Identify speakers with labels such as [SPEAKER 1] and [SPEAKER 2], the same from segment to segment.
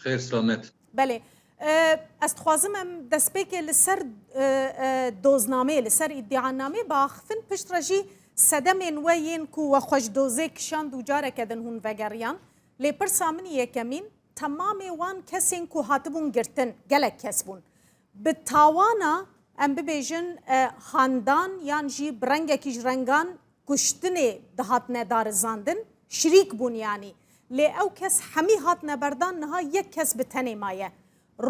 [SPEAKER 1] خێر سڵامەت. بەلێ
[SPEAKER 2] ئەستخوازم ئەم دەسپێکێ لە سەر دۆزنامەیە لە سەر ئیدیعا نامەیە باخفن پشت ڕەژی سەدەمێن وە یێن کو وە خوەش دۆزێ کشان دووجارە کەدن هوون ڤەگەڕیان لێ پرسا منی یەکەمین تەمامێ وان کەسێن کو هاتبوون گرتن گەلەک کەس بوون ب تاوانا ئەم ببێژن خاندان یان ژی ب ڕەنگەکیش ڕەنگان کوشتنێ دهاتنە دارزاندن شریک بونیانی لێ ئەو کەس حەمی هاتنە بەردان نها یەک کەس بە تەنێ مایە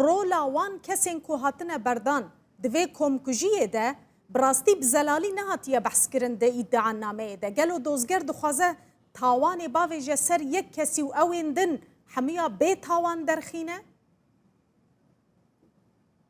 [SPEAKER 2] رۆلا وان کەسێن کو هاتنە بەردان دڤێ کۆمکوژیێ دە بڕاستی بزەلالی نهاتیە بەحس کرن دە ئیدعا نامەێ دە گەلۆ دۆزگەر دخوازە تاوانێ باڤێژە سەر یەک کەسی و ئەوێن دن حەمیا بێ تاوان دەرخینە؟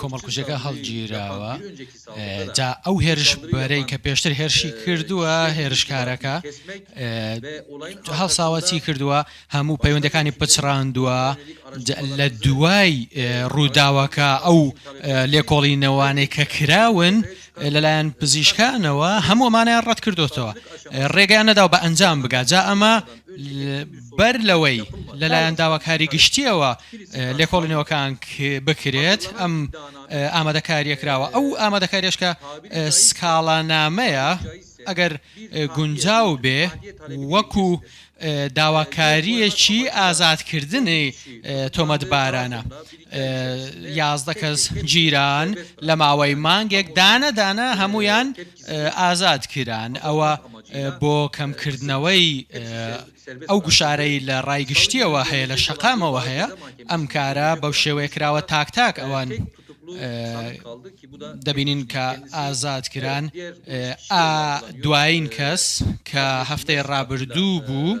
[SPEAKER 1] کۆمەڵکوژەکە
[SPEAKER 3] هەڵگیراوە جا ئەو هێرش بەرەی کە پێشتر هێرشی کردووە هێرشکارەکە هەڵساوەچی کردووە هەموو پەیوەندەکانی پچڕاندووە لە دوای ڕووداوەکە ئەو لێکۆڵینەوانەی کە کراون لەلایەن پزیشکانەوە هەموومانیان ڕەت کردوتەوە ڕێگەیان نەداو بە ئەنجام بگات جا ئەمە بەر لەوەی لەلایەن داواکاری گشتییەوە لێکۆڵینەوەکان بکرێت ئەم ئامادەکاریە کراوە ئەو ئامادەکاریشکە سکاڵانامەیە ئەگەر گونجاو بێ وەکو داواکاریەکی ئازادکردنی تۆمەتبارانە یازدە کەس گیران لە ماوەی مانگێک دانەدانە هەمویان ئازاد کران، ئەوە بۆ کەم کردنەوەی ئەو گوشارەی لە ڕای گشتیەوە هەیە لە شەقامەوە هەیە، ئەم کارە بەو شێوەیە کراوە تاک تاک ئەوان دەبینین کە ئازاد کران، ئا دوایین کەس کە هەفتەی ڕابردوو بوو،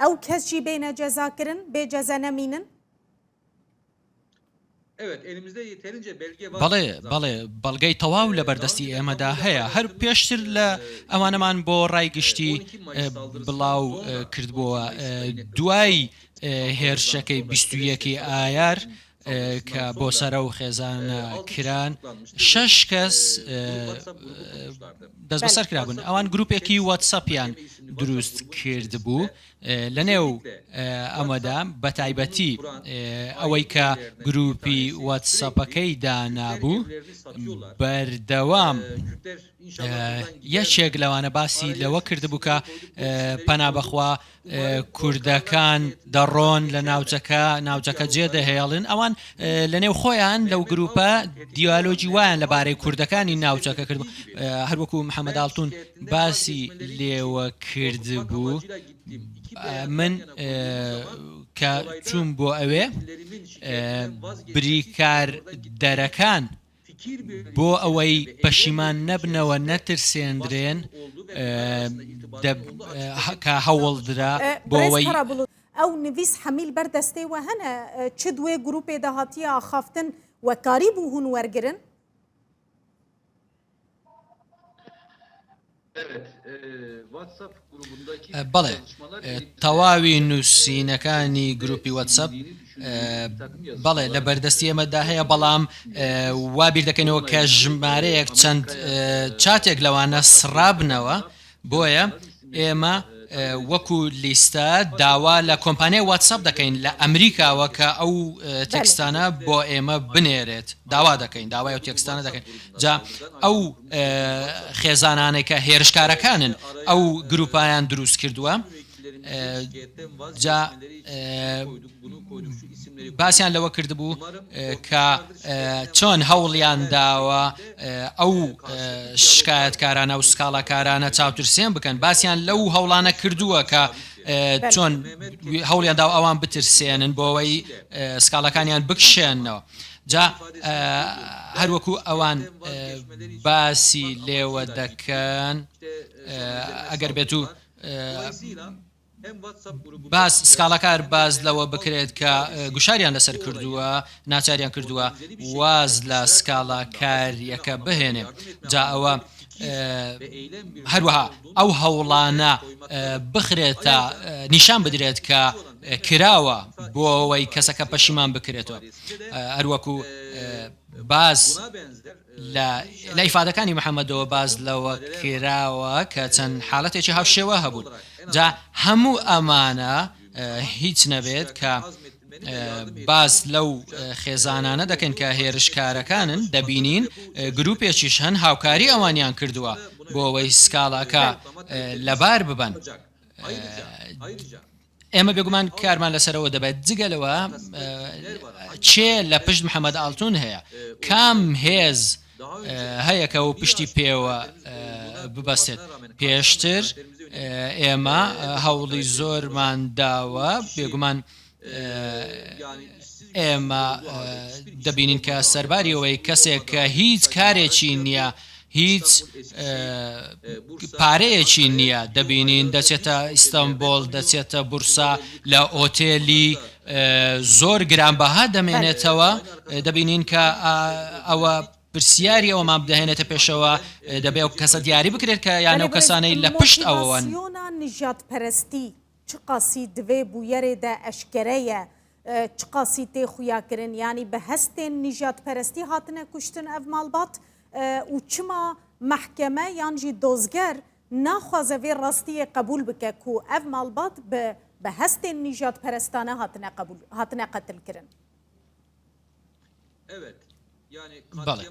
[SPEAKER 2] ئەو کەس جی بینە جەزا کرن بێ جەزە نەمینن.
[SPEAKER 3] بەڵێ بەڵێ بەڵگەی تەواو لەبەردەستی ئێمەدا هەیە هەر پێشتر لە ئەوانەمان بۆ ڕای گشتی بڵاو کردبۆوە دوای هێرشەکەی بیست و یەکی ئایار کە بۆ سەرە و خێزان کران شەش کەس دەست بەسەر کرابوون ئەوان گروپێکی وەتسەپیان دروست کرد بوو لە نێو ئەمەدا بە تایبەتی ئەوەی کە گروپی وەتسەپەکەی دانابوو بەردەوام یەکێک لەوانە باسی لەوە کردبوو کە پەنا بەخوا کوردەکان دەڕۆن لە ناوچەکە ناوچەکە جێ دەهێڵن ئەوان لە نێو خۆیان لەو گروپە دیالۆجی وایان لەبارەی کوردەکانی ناوچەکە کرد هەروەکو محەممەداڵتون باسی لێوە کرد بوو من کە چوون بۆ ئەوێ بریکار دەرەکان بۆ ئەوەی پەشیمان نەبنەوە نەترسێندرێن کە هەوڵدرا بۆ ئەوەی. ئەو نڤیس
[SPEAKER 2] حەمیل بەر دەستێ وە هەنە چ دوێ گروپێ داهاتیە ئاخافتن وە کاری بوو هون وەرگرن؟
[SPEAKER 3] بەڵێ تەواوی نوسینەکانی گروپی وەتسەپ بەڵێ لە بەردەستی ئێمەدا هەیە بەڵام وا بیردەکەینەوە کە ژمارەیەک چەند چاتێک لەوانە سڕابنەوە بۆیە ئێمە وەکو لیستە داوا لە کۆمپانیای وەتسەپ دەکەین لە ئەمریکاوە کە ئەو تێکستانە بۆ ئێمە بنێرێت داوا دەکەین داوای ئەو تێکستانە دەکەین. جا ئەو خێزانانەی کە هێرشکارەکانن ئەو گروپایان دروست کردووە جا باسیان لەوە کردبوو کە چۆن هەوڵیان داوە ئەو شکایەتکارانە و سکاڵاکارانە چاوترسێن بکەن باسیان لەو هەوڵانە کردووە کە چۆن هەوڵیان داو ئەوان بترسێنن بۆەوەی سکاڵەکانیان بکشێنەوە جا هەر وەکو ئەوان باسی لێوە دەکەن ئەگەر بێت و باس سکاڵەکار باز لەوە بکرێت کە گوشاریان لەسەر کردووە ناچاریان کردووە واز لە سکاڵا کاریەکە بهێنێ جا ئەوە هەروەها ئەو هەوڵانە بخرێتە نیشان بدرێت کە کراوە بۆ ئەوەی کەسەکە پەشیمان بکرێتەوە هەروەکو باس لە ئیفادەکانی محەمەدەوە باس لەوە کراوە کە چەند حالەتێکی هاوشێوە هەبوون جا هەموو ئەمانە هیچ نەبێت کە باس لەو خێزانانە دەکەن کە هێرشکارەکانن دەبینین گروپێکیش هەن هاوکاری ئەوانیان کردووە بۆ ئەوەی سکاڵاکە لەبار ببەن ئێمە بێگومان کارمان لەسەرەوە دەبێت، جگە لەوە کێ لە پشت محەمەد ئاڵتون هەیە، کام هێز هەیە کە پشتی پێوە ببەستێت، پێشتر ئێمە هەوڵی زۆرمان داوە، بێگومان ئێمە دەبینین کە سەرباری ئەوەی کەسێک کە هیچ کارێکی نییە هیچ پارەیەکی نیە دەبینین دەچێتە ئیستەنبۆڵ دەچێتە بورسا لە ئۆتێلی زۆر گرانبەها دەمێنێتەوە دەبینین کە ئەوە پرسیاری ئەوەمان بدەهێنێتە پێشەوە دەبێ ئەو کەسە دیاری بکرێت کە یانە و کەسانەی لە پشت ئەوەن.
[SPEAKER 2] چ قاسی دڤێ بویەرێ دە ئەشکەرە یە، چ قاسی تێ خویا کرن، یانی بە هەستێن نیژاد پەرەستی هاتنە کوشتن ئەڤ ماڵبات؟ ئوو چما مەحکەمە یان ژی دۆزگەر ناخوازە ڤێ ڕاستیێ قەبول بکە کوو ئەڤ ماڵبات بە هەستێن نیژاد پەرەستانە هاتنە قەتل کرن؟
[SPEAKER 3] بەڵێ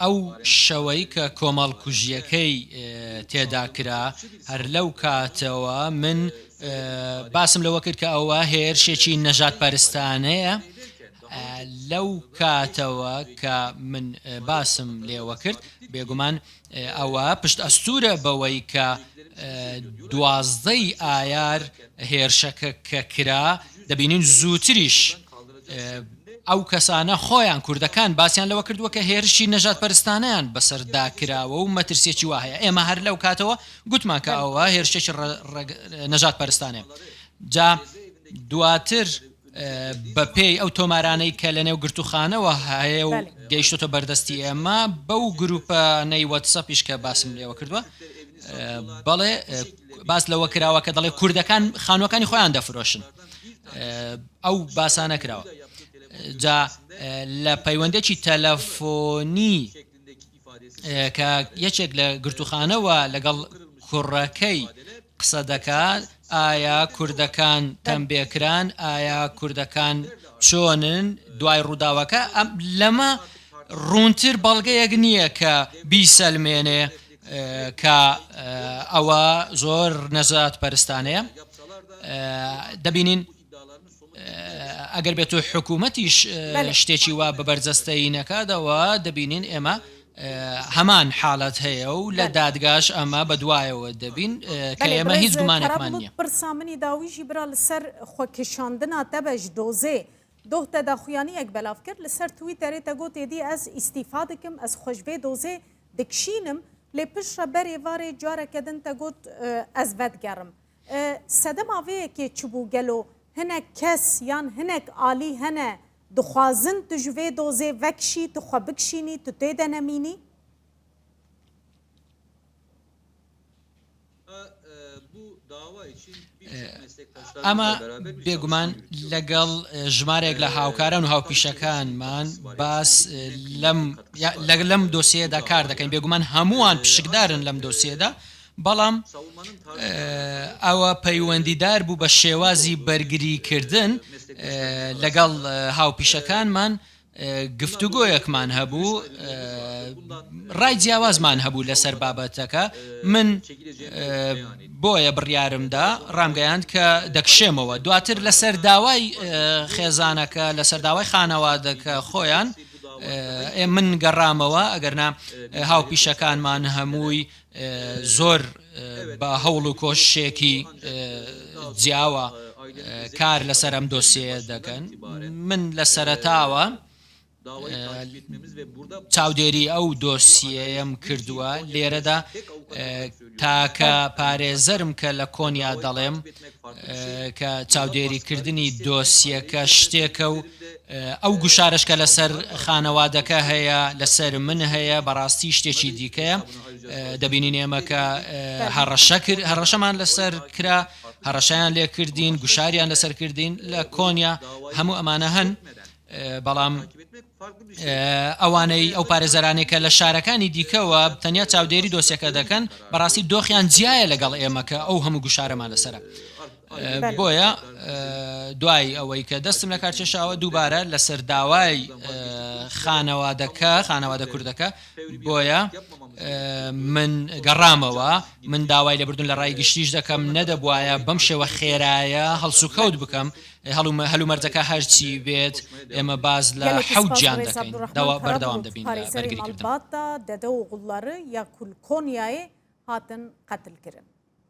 [SPEAKER 3] ئەو شەوەی کە کۆمەڵکوژیەکەی تێدا کرا هەر لەو کاتەوە من باسم لەوە کرد کە ئەوە هێرشێکی نەژاد پەرستانەیە لەو کاتەوە کە من باسم لێوە کرد بێگومان ئەوە پشت ئەستوورە بەوەی کە دوازدە ی ئایار هێرشەکە کە کرا، دەبینین زووتریش ئەو کەسانە خۆیان، کوردەکان، باسیان لەوە کردووە کە هێرشی نەژادپەرستانەیان بەسەردا کراوە و مەترسییەکی وا هەیە، ئێمە هەر لەو کاتەوە گوتمان کە ئەوە هێرشێکی نەژادپەرستانەیە، جا دواتر. بەپێی ئەو تۆمارانەی کە لەنێو گرتووخانەوە هەیە و گەیشتۆتە بەردەستی ئێمە بەو گروپە نەی وەتسەپیش کە باسم لێوە کردووە بەڵێ باس لەوە کراوە کە دەڵێ کوردەکان خانوەکانی خۆیان دەفرۆشن ئەو باسانە کراوە جا لە پەیوەندێکی تەلەفۆنی کە یەکێک لە گرتووخانەوە لەگەڵ کوڕەکەی قسە دەکات ئایا کوردەکان تەمبێ کران ئایا کوردەکان چۆنن دوای ڕووداوەکە ئەم لەمە ڕوونتر بەڵگەیەک نییە کە بیسەلمێنێ کە ئەوە زۆر نەزات پەرستانەیە دەبینین ئەگەر بێت و حکوومەتیش شتێکی وا بە بەرجەستەیی نەکاتەوە دەبینین ئێمە هەمان حالەت هەیە و لە دادگاش ئەمە بە دوایەوە دەبین کە ئێمە هیچ گومانێکمان نیە پرسا منی داویژی
[SPEAKER 2] برا لەسەر خۆکیشاندنا دەبەش دۆزێ دۆخ دە داخویانیەک بەلاف کرد لەسەر توی تەرێتە گۆ تێدی ئەس ئیسیفا دکم ئەس خۆشێ دۆزێ دکشینم لێ پشڕە بەرێ وارێ جارەکەدن تە گۆت ئەس ڤەدگەڕم سەدە ماڤەیەکێ چبوو گەلۆ هنەک کەس یان هنەک ئالی هەنە دخوازن تو جڤێ دۆزێ ڤەکشی تو خوە بکشینی تو تێدە نەمینی؟
[SPEAKER 3] ئەمە بێگومان لەگەڵ ژمارێک لە هاوکاران و هاوپیشەکانمان باس لەم لەگەلم دۆسیەدا کار دەکەین بێگومان هەمووان پشکدارن لەم دۆسیەدا بەڵام ئەوە پەیوەندیدار بوو بە شێوازی بەرگریکردن لەگەڵ هاوپیشەکانمان گفتوگۆیەکمان هەبوو ڕای جیاوازمان هەبوو لەسەر بابەتەکە من بۆیە بڕیارمدا ڕامگەیاند کە دەکشێمەوە دواتر لەسەر داوای خێزانەکە لەسەر داوای خانەوادەکە خۆیان من گەڕامەوە ئەگەرنا هاوپیشەکانمان هەمووی زۆر بە هەوڵ و کۆششێکی جیاوە کار لەسەر ئەم دۆسیەیە دەکەن من لە سەرەتاوە چاودێری ئەو دۆسیەیەم کردووە لێرەدا تاکە پارێزەرم کە لە کۆنیا دەڵێم کە چاودێریکردنی دۆسیەکە شتێکە و ئەو گوشارەش کە لەسەر خانەوادەکە هەیە لەسەر من هەیە بەڕاستی شتێکی دیکەیە دەبینین ئێمە کە هەڕەشە کرد هەڕەشەمان لەسەر کرا هەڕەشیان لێ کردین گوشاریان لەسەر کردین لە کۆنیا هەموو ئەمانە هەن بەڵام ئەوانەی ئەو پارێزەرانێک کە لە شارەکانی دیکەوە تەنیا چاودێری دۆسیەکە دەکەن بەڕاستی دۆخیان جیایە لەگەڵ ئێمەکە ئەو هەموو گوشارەمان لەسرە بۆیە دوای ئەوەی کە دەستم لەکار کێشاوە دووبارە لەسەر داوای خانەوادەکە خانەوادە کوردەکە بۆیە من گەڕامەوە من داوای لەبردون لە ڕای گشتیش دەکەم نەدەبواە بەم شێوە خێرایە هەڵسوکەوت بکەم هەڵومە هەلومەرجەکە هەرچی بێت ئێمە باز لە حەوجان دەکەین داوا بەردەوام دەبین بەرگری
[SPEAKER 2] دەدە و گوڵڵەڕ یا کول کۆنیایێ هاتن قەتل کرن.